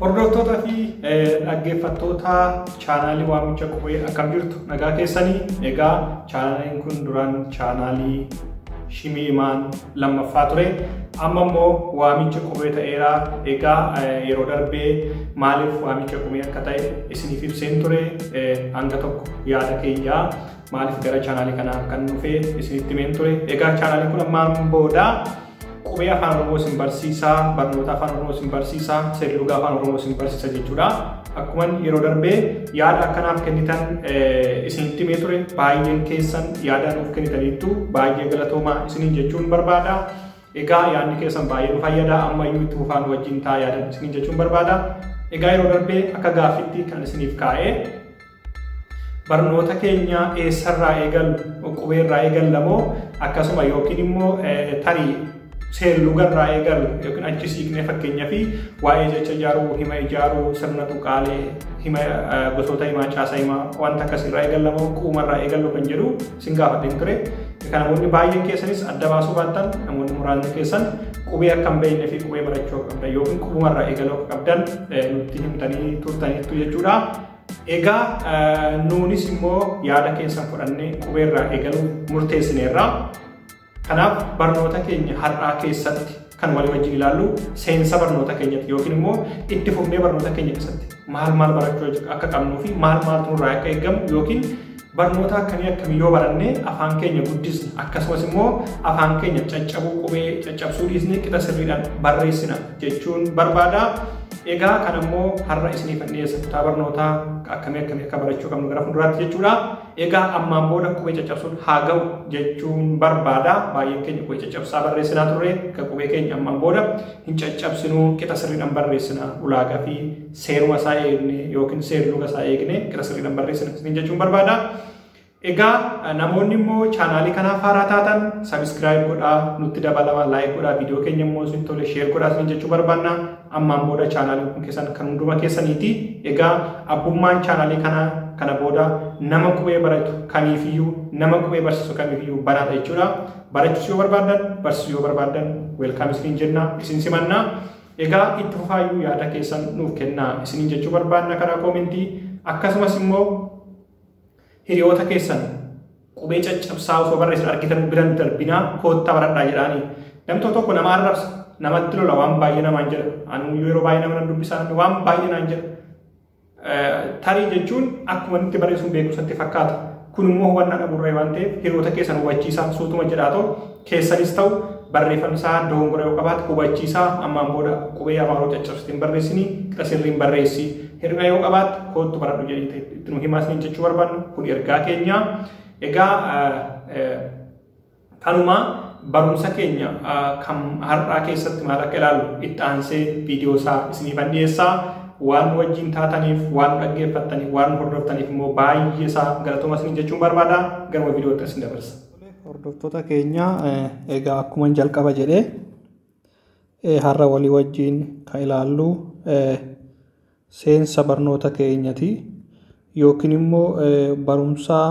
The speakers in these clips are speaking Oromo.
Hordoftoota fi dhaggeeffattoota chaanaalii waamicha qubee akkam jirtu nagaa keessanii egaa chaanaaliin kun duraan chaanaalii shimii imaan lammaffaa ture amma immoo waamicha qubee ta'eera egaa yeroo darbee maaliif waamicha qubee akka ta'e isiniif ibseen ture hanga tokko yaada keenyaa Maaliif gara chaanaalii kanaa kan dhufe isinitti himeen ture. Egaa chaanaalii kun ammaan booda qubee afaan Oromoo isin barsiisa, barnoota afaan Oromoo isin barsiisa, seerluga afaan Oromoo isin barsiisa jechuudha. Akkuma yeroo darbee yaada akkanaaf kennitan isinitti himee ture baay'een keessan yaada nuuf kennitaniittu baay'ee galatoomaa isiniin jechuun barbaada. Egaa yaadni keessan baay'ee nu fayyada amma iyyuu itti fufaan wajjin taa yaadan isiniin jechuun barbaada. Egaa yeroo darbee akka gaaffitti kan isiniif kaa'ee Barnoota keenya eessarraa eegallu? Qubeerraa eegalla moo akkasuma yookiin immoo tarii seerlugarraa eegallu yookiin achi siiqnee fakkeenyaa fi waa'ee jecha ijaaruu, hima ijaaruu, sirna tuqaalee, hima gosoota himaa, caasaa himaa wanta akkasirraa eegalla moo quumarraa eegallu kan jedhu sin gaafadheen ture. Kan namoonni baay'een keessanis adda baasuu baattan namoonni muraasni keessan qubee akka hin beekne fi qubee barachuu akka qabdan yookiin qubumarraa eegaluu akka qabdan nutti himtanii turtaniittu jechuudha. Egaa nuunis immoo yaada keessan fudhannee qubeerraa eegaluu murteessineerra. Kanaaf barnoota keenya har'aa keessatti kan walii wajjin ilaallu seensa barnoota keenyatti yookiin immoo itti fufnee barnoota keenya keessatti maal maal barachuu akka qabnuu fi maal maaltu nurraa akka eegamu yookiin Barnoota akkamii akkamii yoo baranne afaan keenya guddisna akkasumas immoo afaan keenya caccabuu qubee caccabsuu dhiisnee qixa sirriidhaan barreessina jechuun barbaada. Egaa kan ammoo har'a isiniif dhiyeessa kutaa barnootaa akkamii akkamii akka barachuu qabnu gara fuulduraatti jechuudha. Egaa ammaan booda qubee caccabsuun haa ga'u jechuun barbaada. Baay'een keenya qubee caccabsaa barreessinaa turre kan qubee keenya ammaan booda hin caccabsinu qixa sirriidhaan barreessina ulaagaa fi seeruma isaa eegne yookiin seerluga isaa eegne gara sirriidhaan barreessina isiniin jechuun barbaada. Egaa namoonni immoo chaanaalii kanaaf haaraa taatan sabiskiraayib godhaa nutti dabalama laayik godhaa viidiyoo keenya immoo isin tole sheer godhaa isin jechuu barbaanna ammaan booda chaanaaliin kun keessan kan hunduma keessaniiti egaa abbummaan chaanaalii kanaa kana booda nama qubee baratu kamiifiyyuu nama qubee barsiisu kamiifiyyuu banaadha jechuudha barachuus yoo barbaadan barsiisuu yoo barbaadan weelkaam isiniin jenna isin simanna Egaa itti fufaayyuu yaada keessan nuuf kennaa isiniin jechuu barbaanna karaa koomentii akkasumas immoo hiriyoota keessan qubee caccabsaa osoo barreessan argitan biran darbinaa koottaa baradhaa jedhaanii namni tokko tokko nama arrabsa namatti lola waan baay'ee namaan jedha anuu yeroo baay'ee nama nan dubbisaa namni waan baay'ee naan jedha Tarii jechuun akkuma nutti barreessuun beekumsatti fakkaata. Kun immoo hubannaa dhabuurraa waan ta'eef hiriyoota keessan hubachiisaa suutuma jedhaa ta'u keessanis ta'u barreeffamni isaa dogongora yoo qabaate hubachiisaa ammaan booda qubee afaanoo caccabsite hin barreessinii qixa sirriin barreessi hir'ina yoo qabaatte koottu baradhu jedhee itti nu himaasni jechuu barbaadnu kun ergaa keenyaa. Egaa Kanumaa barumsa keenya kan har'aa keessatti maal akka ilaalu itti aansee viidiyoo isaa isiniifan dhiyeessaa. Waan wajjin taataniif, waan dhaggeeffattaniif, waan hordoftaniif immoo baay'ee isaa galatoomaa isin jechuun barbaada. Gara viidiyootti isin dabarsa. Hordoftoota keenya egaa akkuma jalqaba jedhee har'a walii wajjin kan ilaallu seensa barnoota keenyati yookiin immoo barumsaa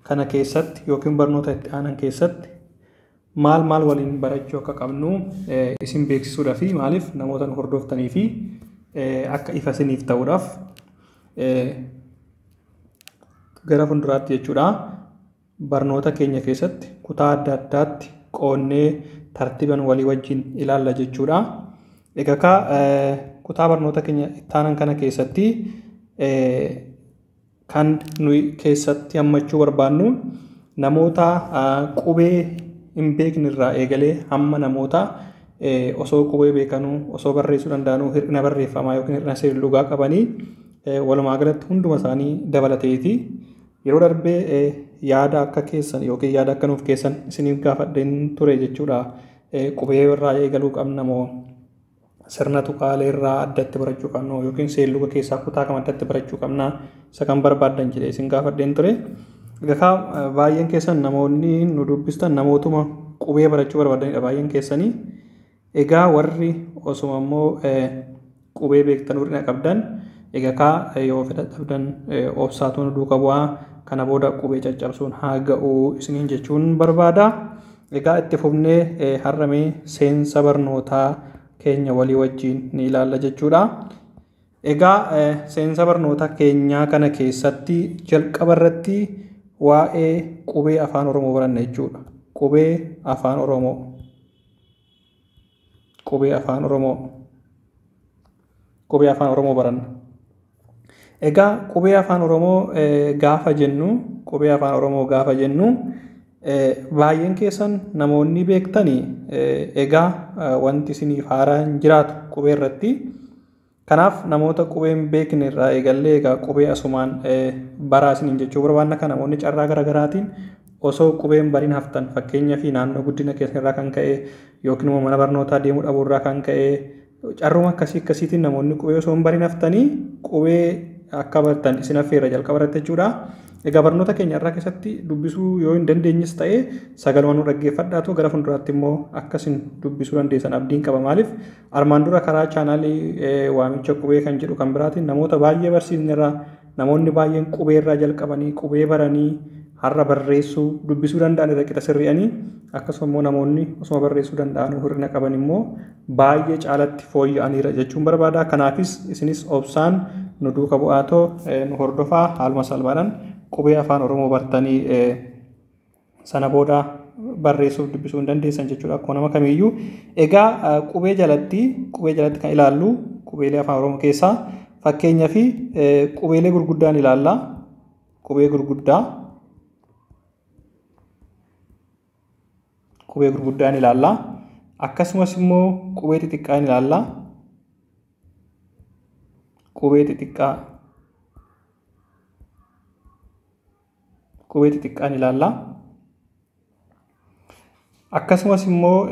kana keessatti yookiin barnoota itti aanan keessatti maal maal waliin barachuu akka qabnu isin beeksisuudhaaf maaliif namoota nu hordoftanii fi akka ifa isiniif ta'uudhaaf gara fuulduraatti jechuudha. Barnoota keenya keessatti kutaa adda addaatti qoonnee tartiiban walii wajjin ilaalla jechuudha. Egaa kaa kutaa barnoota keenya ittaanan kana keessatti kan nuyi keessatti hammachuu barbaannu namoota qubee hin beekne irraa eegalee hamma namoota osoo qubee beekanuu osoo barreessuu danda'anuu hir'ina barreeffamaa yookiin hir'ina seerlugaa qabanii walumaa galatti hunduma isaanii dabalateeti. Yeroo darbe yaada akka keessan ykn yaada akka nuuf keessan isiniif gaafadheen ture jechuudha. Qubee irraa eegaluu qabna moo sirna tuqaalee irraa addatti barachuu qabna ykn seelluga keessaa kutaa kam addatti barachuu qabna isa kan barbaaddan jedhee isin gaafadheen ture. Egaa baay'een keessan namoonni nu dubbistan namootuma qubee barachuu barbaadanidha baay'een keessanii. Egaa warri osuma immoo qubee beektan hir'ina qabdan egaa kaa yoo fedha dhabdan obsaatu nu duuka bu'aa kana booda qubee caccabsuun haa ga'u isiniin jechuun barbaada. Egaa itti fufnee har'a mee seensa barnootaa keenya walii wajjin ni ilaalla jechuudha. Egaa seensa barnoota keenyaa kana keessatti jalqaba irratti waa'ee qubee afaan Oromoo baranna jechuudha. Qubee afaan Oromoo. Qubee Afaan Oromoo Qubee Afaan Oromoo baranna. Egaa qubee Afaan Oromoo gaafa jennu qubee Afaan Oromoo gaafa jennu baay'een keessan namoonni beektanii egaa wanti isiniif haaraa hin jiraatu qubee irratti. Kanaaf namoota qubee hin beekne irraa eegallee egaa qubee asumaan baraa isiniin jechuu barbaanna kana namoonni carraa gara garaatiin osoo qubee hin bariin haftan fakkeenya fi naannoo guddina keessan irraa kan ka'e yookiin immoo mana barnootaa deemuu dhabuu irraa kan ka'e carruma akkasii akkasiitiin namoonni qubee osoo hin bariin haftanii qubee akka bartan isin affeerra jalqaba irratti jechuudha. Egaa barnoota keenya irraa keessatti dubbisuu yoo hin dandeenyes ta'e sagaluma nu dhaggeeffadhaatu gara fuulduraatti immoo akka isin dubbisuu dandeessan abdiin qaba maaliif Armaan dura karaa chaanaalii waamicha qubee kan jedhu kan biraatiin namoota baay'ee barsiisnerra namoonni baay'een qubee irraa jalqabanii qubee baranii har'a barreessuu dubbisuu danda'an irra qixa sirri'anii akkasuma immoo namoonni osuma barreessuu danda'anuu hir'ina qaban immoo baay'ee caalatti fooyya'aniira jechuun barbaada. Kanaafis isinis obsaan nu duuka bu'aatoo nu hordofaa haaluma salphaadhaan qubee afaan Oromoo bartanii sana booda barreessuuf dubbisuu hin dandeessan jechuudha akkuma nama kamiiyyuu. Egaa qubee jalatti qubee jalatti kan ilaallu qubeelee afaan oromoo keessaa fakkeenyaa fi qubeelee gurguddaan ilaalla. Qubee gurguddaa qubee gurguddaan ilaalla. Akkasumas immoo qubee xixiqqaa ilaalla. Qubee xixiqqaa qubee xixiqqaan ilaalla. Akkasumas immoo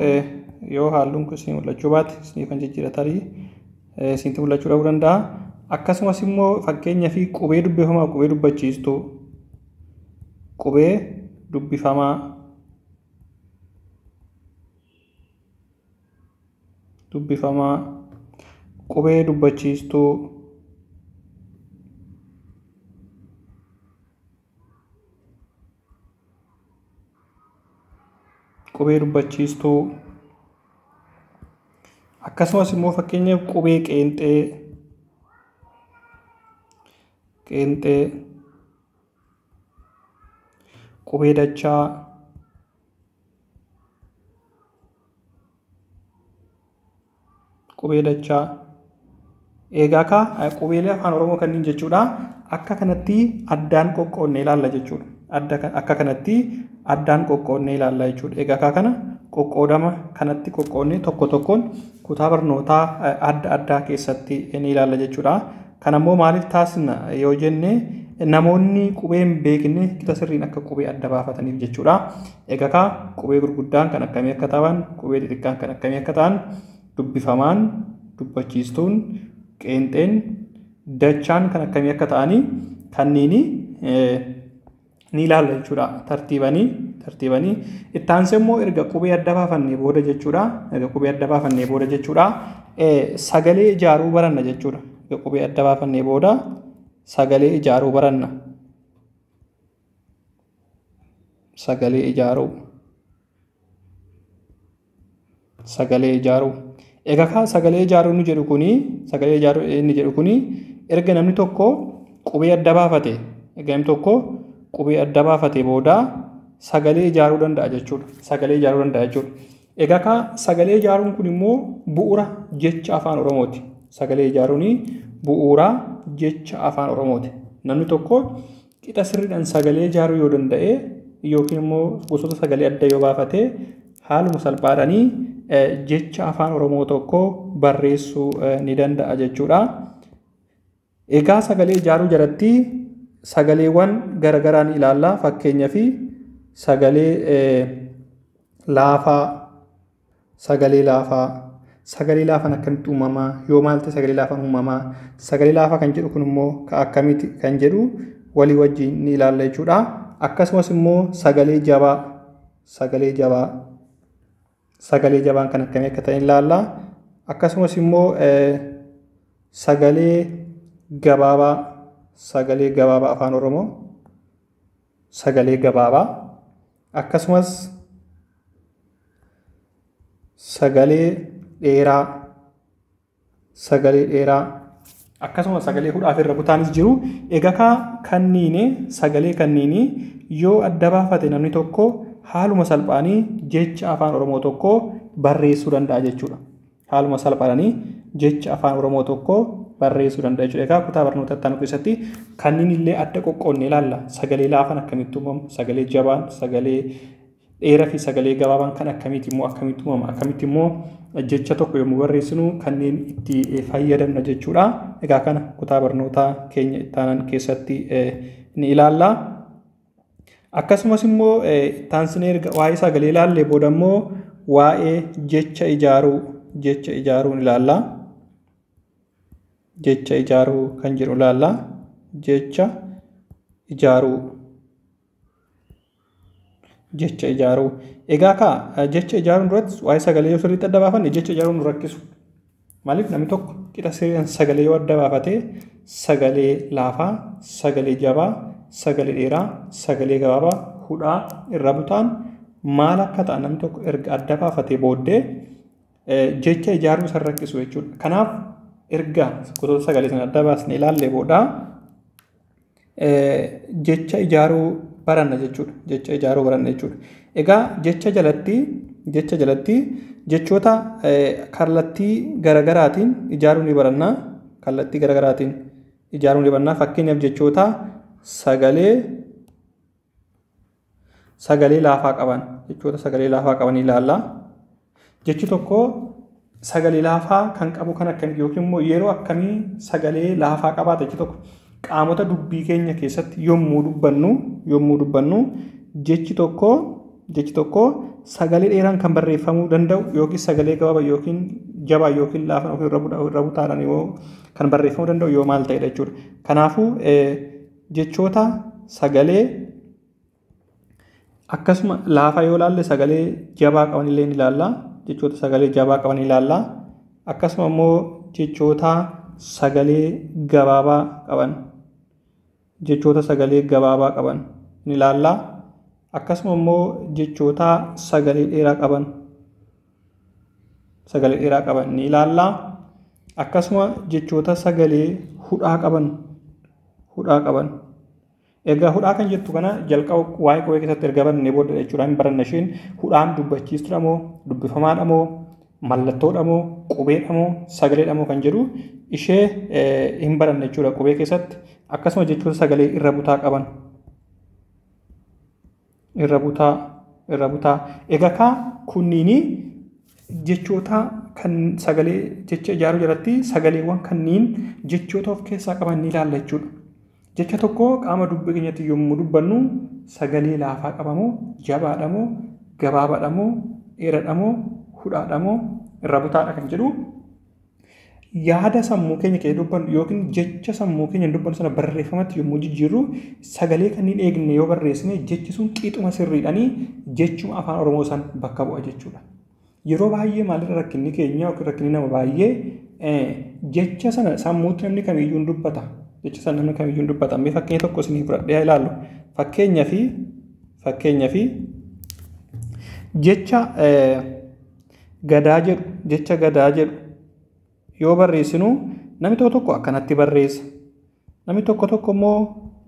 yoo halluun kun isin mul'achuu baate isin kan jijjiira tarii isinti mul'achuu dhabuu danda'a. Akkasumas immoo fakkeenyaa fi qubee dubbifamaa qubee dubbachiistuu qubee dubbifamaa dubbifamaa qubee dubbachiistuu qubee dubbachiistuu akkasumas immoo fakkeenyaaf qubee qeenxee qeenxee Qubee dachaa. Qubee dachaa. Eegaa kaa qubeelee afaan Oromoo kanneen jechuudha. Akka kanatti addaan qoqqoodne ilaalla jechuudha. Adda akka kanatti addaan qoqqoodne ilaalla jechuudha. Eegaa kaa kana qoqqoodama kanatti qoqqoodne tokko tokkoon kutaa barnootaa adda addaa keessatti ni ilaalla jechuudha. Kana immoo maaliif taasisna yoo jenne namoonni qubee hin beekne qixa sirriin akka qubee adda baafataniif jechuudha. Egaa kaa qubee gurguddaan kan akkamii akka ta'an, qubee xixiqqaan kan akkamii akka ta'an dubbifamaan, dubbachiistuun, qeenxeen, dachaan kan akkamii akka ta'anii kanniini ni ilaalla jechuudha tartiibanii tartiibanii itti aansee immoo erga qubee adda baafannee booda jechuudha erga qubee adda baafannee booda jechuudha sagalee ijaaruu baranna jechuudha erga qubee adda baafannee booda sagalee ijaaruu baranna sagalee ijaaruu. sagalee ijaaruu. Egaa kaa sagalee ijaaruu inni jedhu kuni sagalee ijaaruu inni jedhu kuni erga namni tokko qubee adda baafate erga namni tokko qubee adda baafate booda sagalee ijaaruu danda'a jechuudha. Sagalee ijaaruu danda'a jechuudha. Egaa kaa sagalee ijaaruun kun immoo bu'uura jecha afaan Oromooti. Sagalee ijaaruun bu'uura jecha afaan Oromooti. Namni tokko Qixa sirriidhaan sagalee ijaaruu yoo danda'e yookiin immoo gosoota sagalee adda yoo baafate haaluma salphaadhaan jecha afaan Oromoo tokko barreessuu ni danda'a jechuudha. Egaa sagalee ijaaruu jalatti sagaleewwan garaagaraa ni ilaalla. Fakkeenyaaf sagalee laafaa Sagalee laafaa. Sagalee laafaan akkamitti uumama? Yoo maal ta'e sagalee laafaan uumama? Sagalee laafaa kan jedhu kun immoo ka akkamitti kan jedhu walii wajjin ni ilaalla jechuudha. Akkasumas immoo sagalee jabaa. Sagalee jabaa. Sagalee jabaan kan akkamii akka ta'e ni ilaalla. Akkasumas immoo eh, sagalee gabaabaa. Sagalee gabaabaa afaan Oromoo. Sagalee gabaabaa. akkasumas sagalee dheeraa sagalee dheeraa akkasuma sagalee hudhaaf irra butaanis jiru egakaa kanniine sagalee kanniinii yoo adda baafate namni tokko haaluma salphaanii jecha afaan oromoo tokko barreessuu danda'a jechuudha. Haaluma salphaadhani jecha afaan Oromoo tokko barreessuu danda'a jechuudha. Egaa kutaa barnoota itti aanu keessatti kanniin illee adda qoqqoodne ilaalla. Sagalee laafan akkamitti uumamu, sagalee jabaan, sagalee dheeraa fi sagalee gabaabaan kan akkamiiti immoo akkamitti uumama, akkamitti immoo jecha tokko yommuu barreessinu kanneen itti fayyadamna jechuudha. Egaa kana kutaa barnootaa keenya itti aanan keessatti ni ilaalla. Akkasumas immoo ittaansinee erga waa'ee sagalee ilaallee booda immoo waa'ee jecha ijaaruu jecha ijaaruun ilaalla. Jecha ijaaruu kan jedhu ilaalla. Jecha ijaaruu jecha ijaaruu egaa kaa jecha ijaaruun duratti waa'ee sagalee yoo sirriitti adda baafanne jecha ijaaruun nu rakkisu Maaliif namni tokko qixa sirriidhaan sagalee yoo adda baafate sagalee laafaa, sagalee jabaa, sagalee dheeraa, sagalee gabaabaa, hudhaa irra butaan maal akka ta'an namni tokko erga adda baafatee booddee jecha ijaaruu isa rakkisu jechuudha. Kanaaf erga gosoota sagalee sana adda baasnee ilaallee booda jecha ijaaruu baranna jechuudha. Jecha ijaaruu baranna jechuudha. Egaa jecha jalatti jecha jalatti jechoota kallattii garagaraatiin ijaaruu ni baranna. Kallattii garagaraatiin ijaaruu ni baranna. Fakkeenyaaf jechoota sagalee sagalee laafaa qaban jechoota sagalee laafaa qaban ilaalla. Jechi tokko sagalee laafaa kan qabu kan akkamitti yookiin immoo yeroo akkamii sagalee laafaa qabaata jechi tokko qaamota dubbii keenya keessatti yommuu dubbannu yommuu dubbannu jechi tokko jechi tokko sagalee dheeraan kan barreeffamuu danda'u yookiin sagalee gabaaba yookiin jabaa yookiin laafan yookiin irra butaadhaan yoo kan barreeffamuu danda'u yoo maal ta'edha jechuudha. Kanaafuu jechoota sagalee akkasuma laafaa yoo ilaalle sagalee jabaa qaban illee ni ilaalla jechoota sagalee jabaa qaban ni ilaalla akkasuma immoo jechoota sagalee gabaabaa qaban jechoota sagalee gabaabaa qaban ni ilaalla akkasuma immoo jechoota sagalee dheeraa qaban sagalee dheeraa qaban ni ilaalla. Akkasuma jechoota sagalee hudhaa qaban hudhaa qaban. Egaa hudhaa kan jettu kana jalqaba waa'ee qubee keessatti erga barannee booddee jechuudha hin baranna isheen hudhaan dubbachiistudha moo dubbifamaadha moo mallattoodha moo qubeedha moo sagaleedha moo kan jedhu ishee hin baranne jechuudha qubee keessatti akkasuma jechoota sagalee irra butaa qaban. irra butaa irra butaa egaa kaa kunniinii jechoota kan sagalee jecha ijaaruu jalatti sagaleewwan kanniin jechoota of keessaa qaban ni ilaalla jechuudha. Jecha tokko qaama dubbii keenyatti yommuu dubbannu sagalee laafaa qabamoo jabaadhamoo gabaabaadhamoo dheeradhamoo hudhaadhamoo irra butaadha kan jedhu yaada sammuu keenya kee dubbannu yookiin jecha sammuu keenya dubbannu sana barreeffamatti yommuu jijjiirru sagalee kanneen eegne yoo barreessine jechi sun qixuma sirriidhanii jechuma afaan Oromoo san bakka bu'a jechuudha. Yeroo baay'ee maalirra rakkinni keenya yookiin rakkinni nama baay'ee jecha sana sammuutti namni kamiyyuu hin dubbata. Jecha sana namni kamiyyuu hin dubbata. Mee fakkeenya tokko isinii fudhadhee ilaalu. Fakkeenya fi fakkeenya fi jecha Gadaa jedhu, jecha gadaa jedhu yoo barreessinu namni tokko tokko akkanatti barreessa. Namni tokko tokko immoo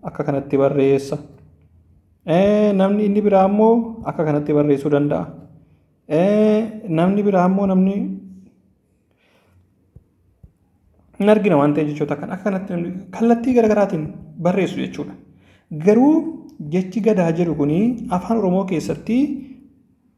akka kanatti barreessa. Eh, Namni inni biraa immoo akka kanatti barreessuu danda'a. Eh, Namni biraa immoo namni hin argina waan ta'e jechoota kan akka kanatti namni kallattii garaagaraatiin barreessu jechuudha. Garuu jechi gadaa jedhu kun afaan Oromoo keessatti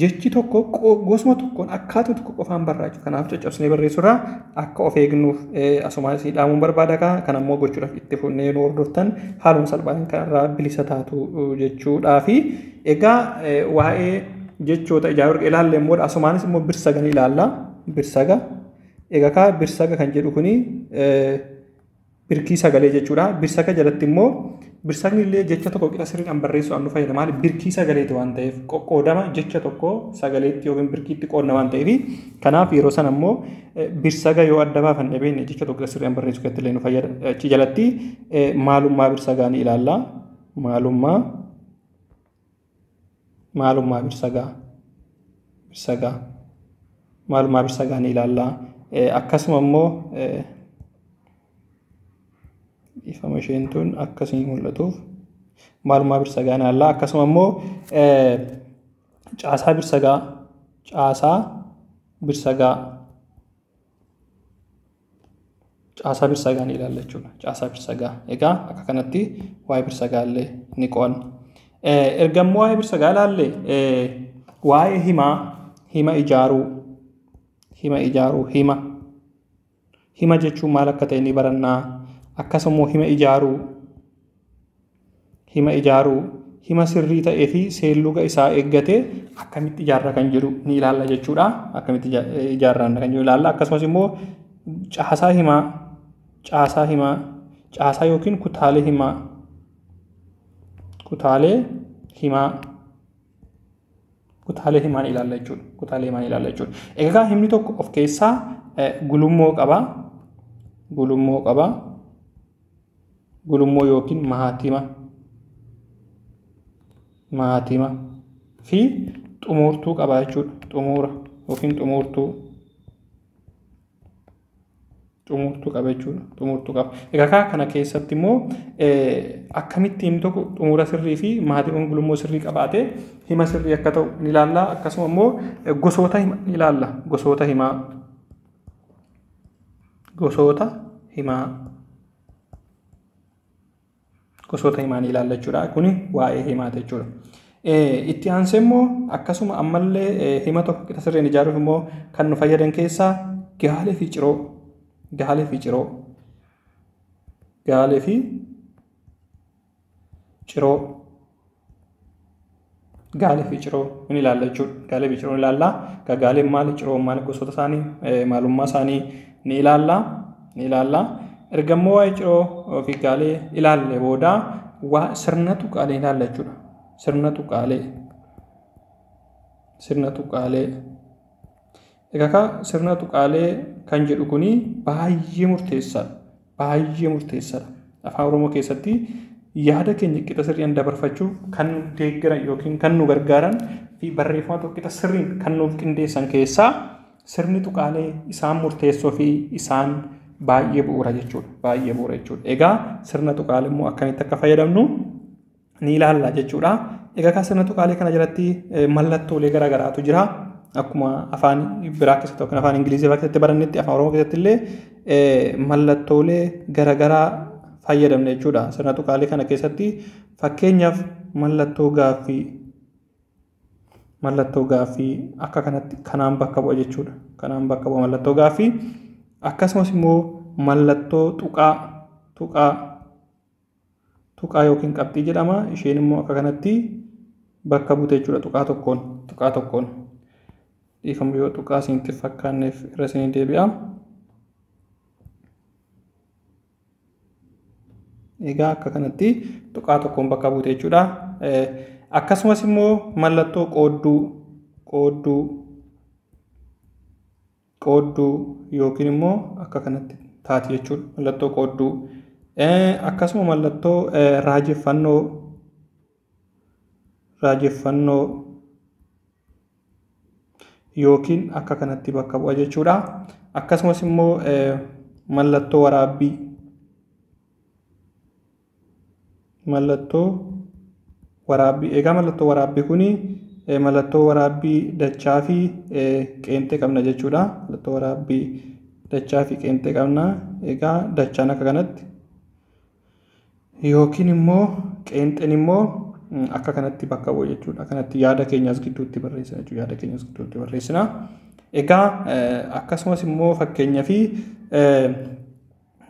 jechi tokko gosuma tokkoon akkaatuma tokko qofaan barraa'u kanaaf caccabsinee barreessurraa akka of eegnuuf asumaa isii dhaamuun barbaada kaa kan ammoo gochuudhaaf itti funnee nu hordoftan haaluma salphaan kanarraa bilisa taatu jechuudhaa fi egaa waa'ee jechoota ijaa warqee ilaalle immoo asumaanis immoo birsaga ni ilaalla birsaga egaa kaa birsaga kan jedhu kuni birkii sagalee jechuudha. Birsaga jalatti immoo birsagni illee jecha tokko qixa sirriidhaan barreessuudhaan nu fayyada. Maaliif birkii sagaleeti waan ta'eef qoqqoodama jecha tokko sagaleetti yookiin birkiitti qoodna waan ta'eef kanaaf yeroo sana immoo birsaga yoo adda baafan dhabeenya jecha tokko qixa sirriidhaan barreessuu keessatti illee nu fayyada. Achi jalatti maalummaa birsagaa ni ilaalla. Maalummaa maalummaa birsagaa birsagaa maalummaa birsagaa ni ilaalla akkasuma immoo ifama isheen tun akkasii mul'atuuf maalummaa birsagaa ni ilaalla akkasuma immoo caasaa birsagaa caasaa birsagaa caasaa birsagaa ni ilaalla jechuudha. Caasaa birsagaa. Egaa akka kanatti waa'ee birsagaa illee ni qo'anna. Erga immoo waa'ee birsagaa ilaalle waa'ee himaa, hima ijaaruu, hima ijaaruu, hima. Hima jechuun maal akka ta'e ni barannaa. Akkasuma immoo hima ijaaruu hima ijaaruu hima sirrii ta'ee fi seelluga isaa eeggate akkamitti ijaarra kan jedhu ni ilaalla jechuudha. Akkamitti ijaarraan kan jedhu ilaalla. Akkasumas immoo caasaa himaa, caasaa himaa, caasaa yookiin kutaalee himaa, kutaalee himaa, kutaalee himaa ni ilaalla jechuudha. Kutaalee himaa ni ilaalla jechuudha. Egaa himni tokko of keessaa gulummoo qaba. Gulummoo qaba. gulummoo yookiin mahaatima mahaatima fi xumuurtuu qaba jechuudha xumuura yookiin xumuurtuu xumuurtuu qaba jechuudha xumuurtuu qaba egaa kana keessatti immoo akkamitti himni tokko xumuura sirrii fi maatiiwwan gulummoo sirrii qabaatee hima sirrii akka ta'u ni ilaalla akkasuma immoo gosoota hima ni ilaalla gosoota himaa gosoota himaa gosoota himaa ni ilaalla jechuudha. Kuni waa'ee himaati jechuudha. Itti aansee immoo akkasuma ammallee hima tokko qixa sirriin ijaaruuf immoo kan nu fayyadan keessaa gaalee fi ciroo gaalee fi ciroo gaalee fi ciroo gaalee fi ciroo in ilaalla jechuudha. Gaalee fi ciroo in ilaalla. Ka gaaleen maali ciroon maali gosoota isaanii maalummaa isaanii ni ilaalla. Ni ilaalla. Erga immoo waa'ee ciroo fi gaalee ilaalle booda waa sirna tuqaalee ilaalla jechuudha. Sirna tuqaalee. Sirna tuqaalee. Egaa sirna tuqaalee kan jedhu kun baay'ee murteessaadha. Baay'ee murteessaadha. Afaan Oromoo keessatti yaada keenya qixa sirriidhaan dabarfachuuf kan nu deeggaran yookiin kan nu gargaaran fi barreeffama tokko qixa sirriin kan nuuf qindeessan keessaa sirni tuqaalee isaan murteessoo fi isaan baay'ee bu'uura jechuudha. Baay'ee bu'uura jechuudha. Egaa sirna tuqaalee immoo akkamitti akka fayyadamnu ni ilaalla jechuudha. Egaa kan sirna tuqaalee kana jalatti mallattoolee garaagaraatu jira. Akkuma afaan biraa keessatti yookiin afaan Ingilizii biraa keessatti barannetti afaan Oromoo keessatti illee mallattoolee garaagaraa fayyadamna jechuudha. Sirna tuqaalee kana keessatti fakkeenyaaf mallattoo gaaffii mallattoo gaaffii akka kanatti kanaan bakka bu'a jechuudha. Kanaan bakka bu'a mallattoo gaaffii akkasumas immoo mallattoo tuqaa tuqaa tuqaa yookiin qabxii jedhama. Isheen immoo akka kanatti bakka buute jechuudha tuqaa tokkoon. Tuqaa tokkoon. Dhiifama yoo tuqaa isinitti fakkaanneef irra isinii deebi'a. Egaa akka kanatti tuqaa tokkoon bakka buute jechuudha. Akkasumas immoo mallattoo qoodduu qoodduu qoodduu yookiin immoo akka kanatti taati jechuudha. Mallattoo qoodduu. Akkasuma mallattoo raajeffannoo raajeffannoo yookiin akka kanatti bakka bu'a jechuudha. Akkasumas immoo mallattoo waraabbii mallattoo waraabbii egaa mallattoo waraabbii kun mallattoo waraabbii dachaa fi qeenxee qabna jechuudha mallattoo waraabbii dachaa fi qeenxee qabna egaa dachaan akka kanatti yookiin immoo qeenxeen immoo akka kanatti bakka bu'u jechuudha kanatti yaada keenya as gidduutti barreessina jechuudha yaada keenya as gidduutti barreessina egaa akkasumas immoo fakkeenyaa fi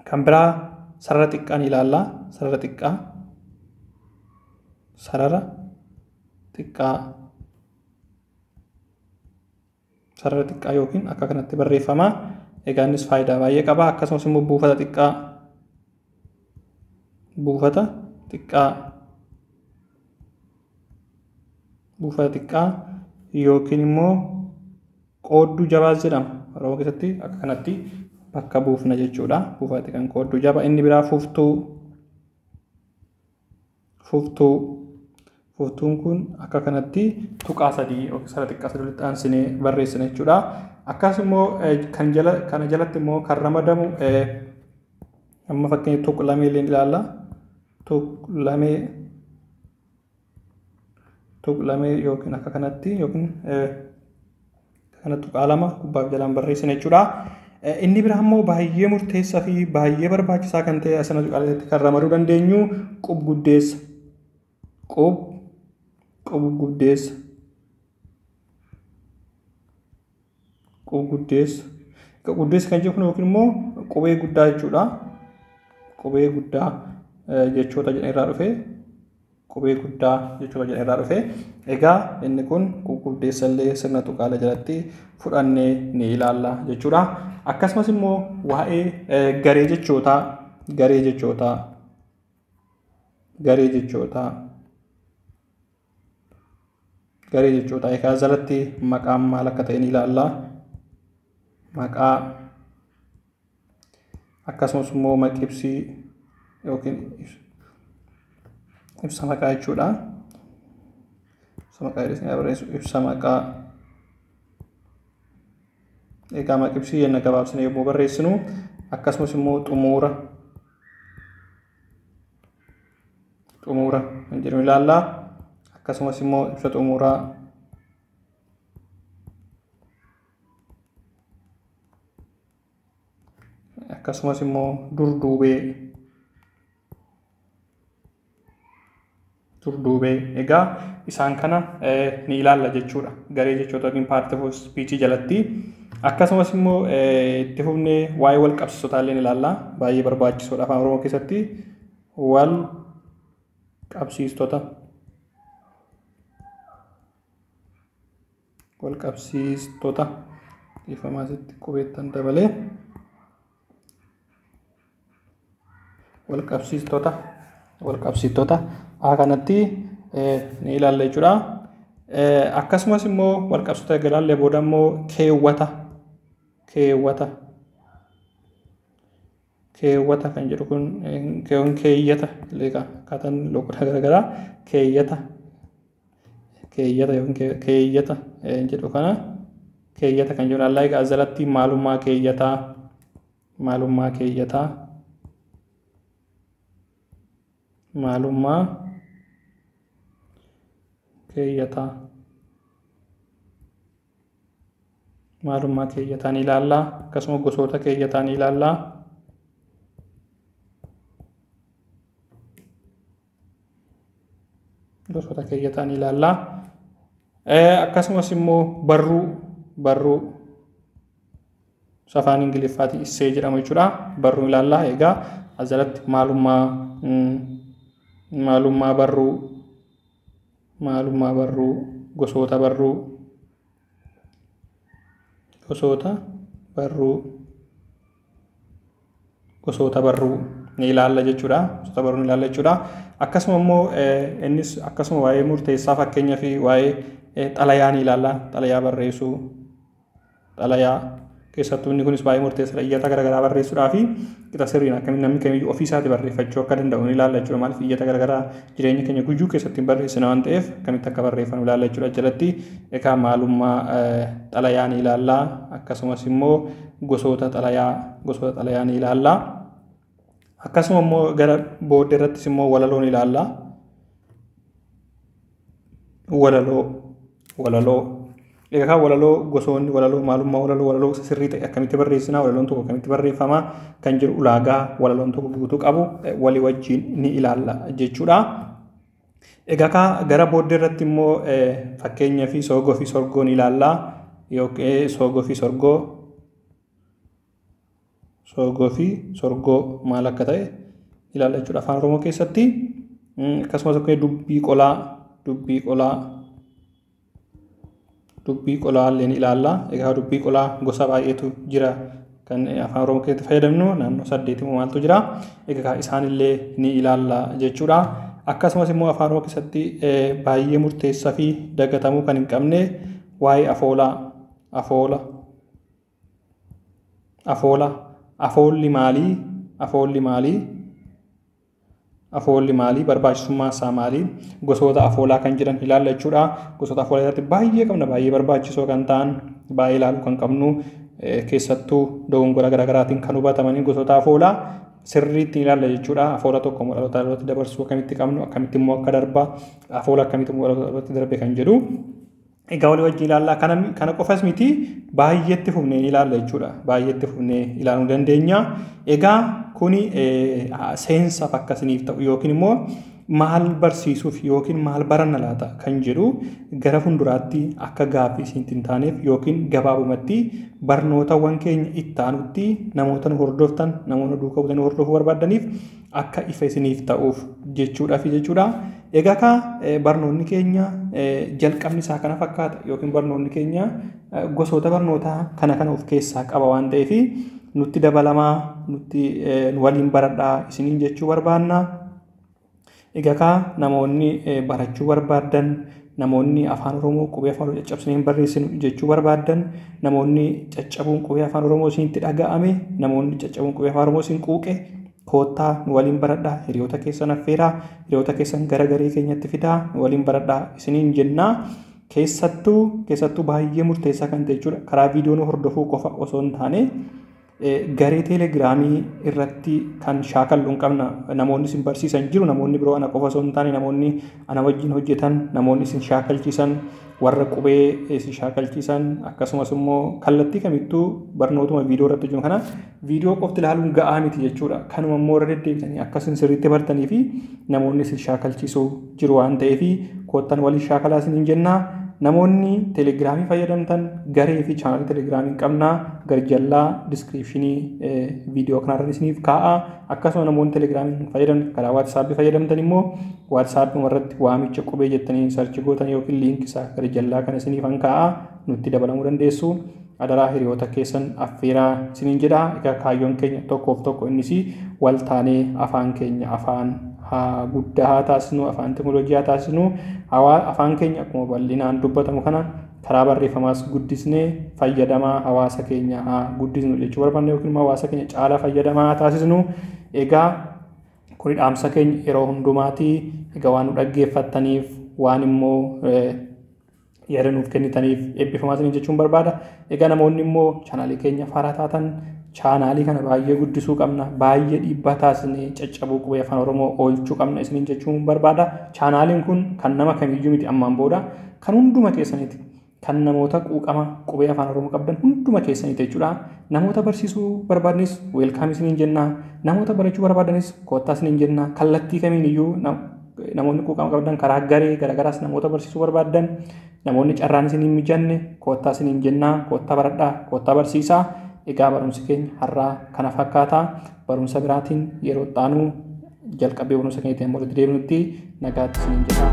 Kan biraa sarara xiqqaa ni ilaalla. Sarara xiqqaa. Sarara xiqqaa. Sarara xiqqaa yookiin akka kanatti barreeffama. Egaa innis faayidaa baay'ee qaba. Akkasumas immoo buufata xiqqaa. Buufata xiqqaa. Buufata xiqqaa yookiin immoo Qoodduu jabaas jedhama. Oromoo keessatti akka kanatti bakka buufna jechuudha. Buufati kan qoodduu jaba. Inni biraa fuftuu. Fuftuu. Fuftuun kun akka kanatti tuqaa sadii yookiin sara xiqqaa sadii walitti aansinee barreessina jechuudha. Akkasumas kan jala kana jalatti immoo kan ramadamu amma fakkeenya tuqlamee illee ilaalla. Tuqlamee tuqlamee yookiin akka kanatti yookiin kana tuqaa lama gubbaaf jalaan barreessina jechuudha. Inni biraa immoo baay'ee murteessaa fi baay'ee barbaachisaa kan ta'e asana tuqaaleetti kan ramaduu dandeenyu qub guddeessa. Qub qub guddeessa. Xiqqoo guddeessu. Xiqqoo guddeessu kan jennu yookiin immoo qubee guddaa jechuudha. Qubee guddaa jechoota jedhan irraa dhufe. Qubee guddaa jechoota jedhan irraa dhufe. Egaa inni kun guguddeessa illee sirna tuqaalee jalatti fudhannee ni ilaalla jechuudha. Akkasumas immoo waa'ee garee jechootaa garee jechootaa garee jechootaa garee jechoota egaa jalatti maqaan maal akka ta'e ni ilaalla. Maqaa akkasumas immoo maqibsii yookiin ibsa maqaa jechuudha. Ibsa maqaa jedhanii barreessu ibsa maqaa. Egaa maqibsii jenna gabaabsine yommuu barreessinu akkasumas immoo xumuura xumuura kan jedhu ilaalla. Akkasumas immoo ibsa xumuuraa akkasumas immoo durduubee durduubee egaa isaan kana ni ilaalla jechuudha garee jechoota yookiin paartii of spiichii jalatti akkasumas immoo itti fufnee waa'ee wal qabsiisotaa illee ilaalla baay'ee barbaachisoodha afaan oromoo keessatti wal qabsiistota wal qabsiistota dhiifamaa asitti qubeettan dabalee wal qabsiistota wal qabsiistota a kanatti ni ilaalla jechuudha. Akkasumas immoo wal qabsiistota erga ilaallee booda immoo keewwata keewwata keewwata kan jedhu kun keewwan keeyyata leeqa akkaataan loqodaa garaagaraa keeyyata keeyyata yookiin keeyyata jedhu kana keeyyata kan jedhu allaa egaa jalatti maalummaa keeyyataa maalummaa keeyyataa maalummaa keeyyataa maalummaa keeyyataan ilaallaa akkasuma gosoota keeyyataan ilaallaa gosoota keeyyataan ilaallaa akkasumas immoo barruu barruu safaan ingiliffaatii issee jedhamu jechuudha barruu ilaallaa egaa asirratti maalummaa maalummaa barruu maalummaa barruu, gosoota barruu, gosoota barruu, gosoota barruu ni ilaalla jechuudha. Gosoota barruu ni ilaalla jechuudha. Akkasuma immoo innis akkasuma waa'ee murteessaa fakkeenyaaf waa'ee xalayaa ni ilaalla. Xalayaa barreessuu, xalayaa keessattuu inni kunis baay'ee murteessadha iyyata garaagaraa barreessuudhaa fi qixa sirriin akkamiin namni kamiyyuu ofii isaati barreeffachuu akka danda'u ni ilaalla jechuudha maaliif iyyata garaagaraa jireenya keenya guyyuu keessatti hin barreessina waan ta'eef akkamitti akka barreeffanu ilaalla jechuudha jalatti egaa maalummaa xalayaa ni ilaalla akkasumas immoo gosoota xalayaa gosoota xalayaa ni ilaalla akkasuma immoo gara booddee irrattis immoo walaloon ilaalla Walaloo Walaloo Egaa walaloo gosoonni walaloo maalummaa walaloo walaloo isa sirrii ta'e akkamitti barreessinaa walaloon tokko akkamitti barreeffamaa kan jiru ulaagaa walaloon tokko guutuu qabu walii wajjin ni ilaalla jechuudha. Egaa kaa gara booddee irratti immoo fakkeenya fi soogoo fi sorgoo ni ilaalla yookiin soogoo fi sorgoo Soogoo fi sorgoo maal akka ta'e ilaalla jechuudha afaan oromoo keessatti akkasumas akkuma dubbii qolaa dubbii qolaa dubbii qolaa illee ni ilaalla egaa dubbii qolaa gosa baay'eetu jira kan afaan oromoo keessatti fayyadamnu naannoo saddeetimu maaltu jira egaa isaan illee ni ilaalla jechuudha akkasumas immoo afaan oromoo keessatti baay'ee murteessaa fi dagatamuu kan hin qabne waa'ee afoolaa afoola Afoola Afoolli maalii? Afoolli maalii? Afoolli maalii? Barbaachisummaa isaa maalii? Gosoota afoolaa kan jiran ilaalla jechuudha. Gosoota afoolaa irratti baay'ee qabna baay'ee barbaachisoo kan ta'an baay'ee ilaaluu kan qabnu keessattuu dogongora garaagaraatiin kan hubatamanii gosoota afoolaa sirriitti ilaalla jechuudha. Afoola tokko immoo dhaloota dhalootatti dabarsuu akkamitti qabnu akkamitti immoo akka darba afoola akkamitti immoo dhaloota dhalootatti darbe kan jedhu Egaa walii wajjin ilaallaa. Kana, kana qofas miti baay'eetti fufnee ilaalla jechuudha. Baay'eetti fufnee ilaaluu dandeenya. Egaa kuni seensaaf akka isiniif ta'u yookiin immoo maal barsiisuuf yookiin maal baranna laata kan jedhu gara fuulduraatti akka gaaffii isinitti hin taaneef yookiin gabaabumatti barnootawwan keenya itti aanutti namoota nu hordoftan namoota duuka buutanii hordofuu barbaaddaniif akka ifa isiniif ta'uuf jechuudhafi jechuudha. Egaa kaa barnoonni keenya jalqabni isaa kana fakkaata yookiin barnoonni keenya gosoota barnootaa kana kana of keessaa qaba waan ta'eef nutti dabalamaa nutti waliin baradhaa isiniin jechuu barbaanna. Egaa kaa namoonni barachuu barbaadan Namoonni Afaan Oromoo qubee Afaan Oromoo caccabsinee hin barreessinu jechuu barbaaddan, namoonni caccabuun qubee Afaan Oromoo isinitti dhaga'ame, namoonni caccabuun qubee Afaan Oromoo isin quuqe, koottaa nu waliin baradhaa, hiriyoota keessan affeeraa, hiriyoota keessan gara garee keenyatti fidaa, nu waliin baradhaa isiniin jenna. Keessattuu keessattuu baay'ee murteessaa kan ta'e jechuudha karaa viidiyoo nu hordofuu qofa osoo hin taane Garee teelegiraamii irratti kan shaakallu hin qabna. Namoonni isin barsiisan jiru namoonni biroo ana qofa osoo hin taane namoonni ana wajjin hojjetan namoonni isin shaakalchiisan warra qubee isin shaakalchiisan akkasumas immoo kallattii kamittuu barnootuma viidiyoo irratti hojjennu kana viidiyoo qofti ilaaluun ga'aa miti jechuudha. Kanuma immoo irra deddeebitanii akkasiin sirriitti bartanii fi namoonni isin shaakalchiisu jiru waan ta'eef koottan waliin shaakalaa isiniin jenna. Namoonni telegiraamii fayyadamtan garee fi chaanalii telegiraamii qabna garjallaa diskiriipshinii viidiyoo kanarra isiniif kaa'a. Akkasuma namoonni telegiraamii fayyadamtan karaa waatsaappi fayyadamtan immoo waatsaappiuma irratti waamicha qubee jettanii sarchi gootan yookiin liinkii isaa garjallaa kana isiniif kaa'a nutti dabalamuu dandeessu. Adaraa hiriyoota keessan affeeraa isiniin jedha. Egaa kaayyoon keenya tokkoof tokko innis wal taanee afaan keenya afaan haa guddaa haa taasisnu, afaan teknolojii haa taasisnu. Hawaa afaan keenya akkuma bal'inaan dubbatamu kana karaa barreeffamaas guddisnee fayyadamaa hawaasa keenya haa guddisnu jechuu barbaanna yookiin immoo hawaasa keenya caalaa fayyadamaa haa taasisnu. Egaa kuni dhaamsa keenya yeroo hundumaati. Egaa waan nu dhaggeeffattaniif waan immoo yaada nuuf kennitaniif eebbifamaa isiniin jechuun barbaada. Egaa namoonni immoo chaanaalii keenya faaraa taatan chaanaalii kana baay'ee guddisuu qabna baay'ee dhiibbaa taasisnee caccabuu qubee afaan oromoo oolchuu qabna isiniin jechuun barbaada chaanaaliin kun kan nama kamiyyuu miti ammaan booda kan hunduma keessaniiti kan namoota quuqama qubee afaan oromoo qabdan hunduma keessaniiti jechuudha namoota barsiisuu barbaadnis weelkaam isiniin jenna namoota barachuu barbaadanis koottaa isiniin jenna kallattii kamiin iyyuu Namoonni quuqama qabdan karaa garee garagaraas namoota barsiisuu barbaaddan namoonni carraan isin hin mijanne koottaa isin hin jennaa koottaa baradhaa koottaa barsiisaa egaa barumsi keenya har'aa kana fakkaataa barumsa biraatiin yeroo xaanuu jalqabbii barumsa keenyatti amma walitti deebinutti nagaatti isin hin jedhaa.